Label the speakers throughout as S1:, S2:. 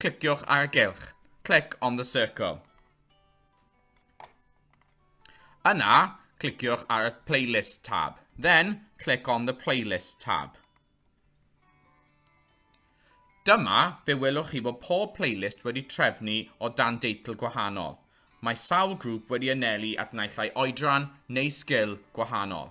S1: Cliciwch ar y gylch. Click on the circle. Yna, cliciwch ar y Playlist tab. Then, click on the Playlist tab. Dyma, fe welwch chi bod pob playlist wedi trefnu o dan deitl gwahanol. Mae sawl grŵp wedi anelu at naillai oedran neu sgil gwahanol.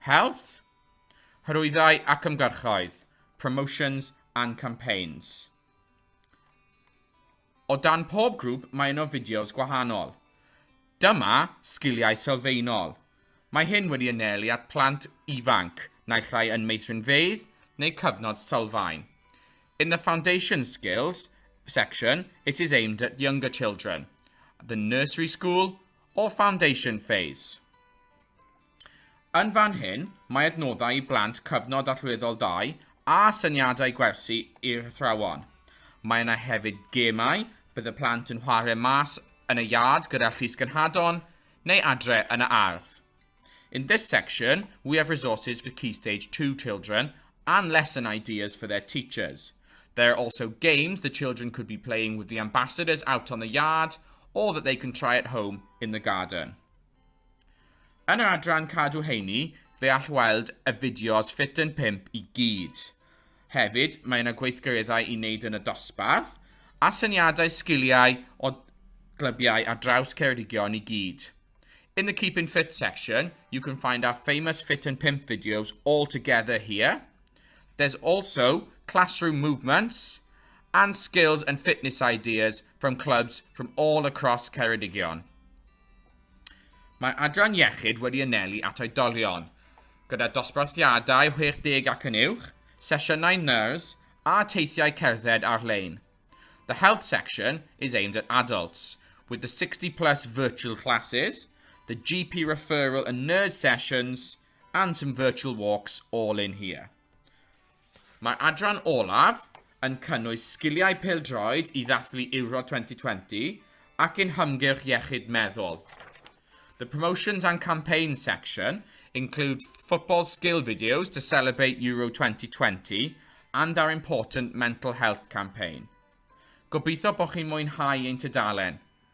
S1: Health, Hyrwyddau ac Ymgyrchoedd, Promotions and Campaigns. O dan pob grŵp mae yno fideos gwahanol. Dyma Sgiliau Sylfaenol. Mae hyn wedi anelu at plant ifanc, naill ai yn meithrinfeydd neu cyfnod sylfaen. In the Foundation Skills section, it is aimed at younger children, the nursery school or foundation phase. Yn fan hyn, mae adnoddau i blant Cyfnod Allweddol 2 a syniadau gwersi i'r athrawon. Mae yna hefyd gemau, bydd y plant yn chwarae mas yn y iard gyda Llys Gynhadon, neu adre yn y ardd. In this section, we have resources for Key Stage 2 children and lesson ideas for their teachers. There are also games the children could be playing with the ambassadors out on the yard or that they can try at home in the garden. Yn yr adran cadw heini, fe all weld y fideos Fit yn 5 i gyd. Hefyd, mae yna gweithgareddau i wneud yn y dosbarth, a syniadau sgiliau o glybiau ar draws Ceredigion i gyd. In the Keeping Fit section, you can find our famous Fit yn 5 videos all together here. There's also classroom movements and skills and fitness ideas from clubs from all across Ceredigion. Mae Adran Iechyd wedi anelu at oedolion gyda dosbarthiadau 60 ac yn uwch, sesiynau nyrs a teithiau cerdded ar-lein. The health section is aimed at adults, with the 60 plus virtual classes, the GP referral and NERS sessions and some virtual walks all in here. Mae'r adran olaf yn cynnwys sgiliau pêl-droed i ddathlu Euro 2020 ac yn hymgyrch iechyd meddwl. The promotions and campaigns section include football skill videos to celebrate Euro 2020 and our important mental health campaign. Gobeithio bod chi'n mwynhau ein tudalen.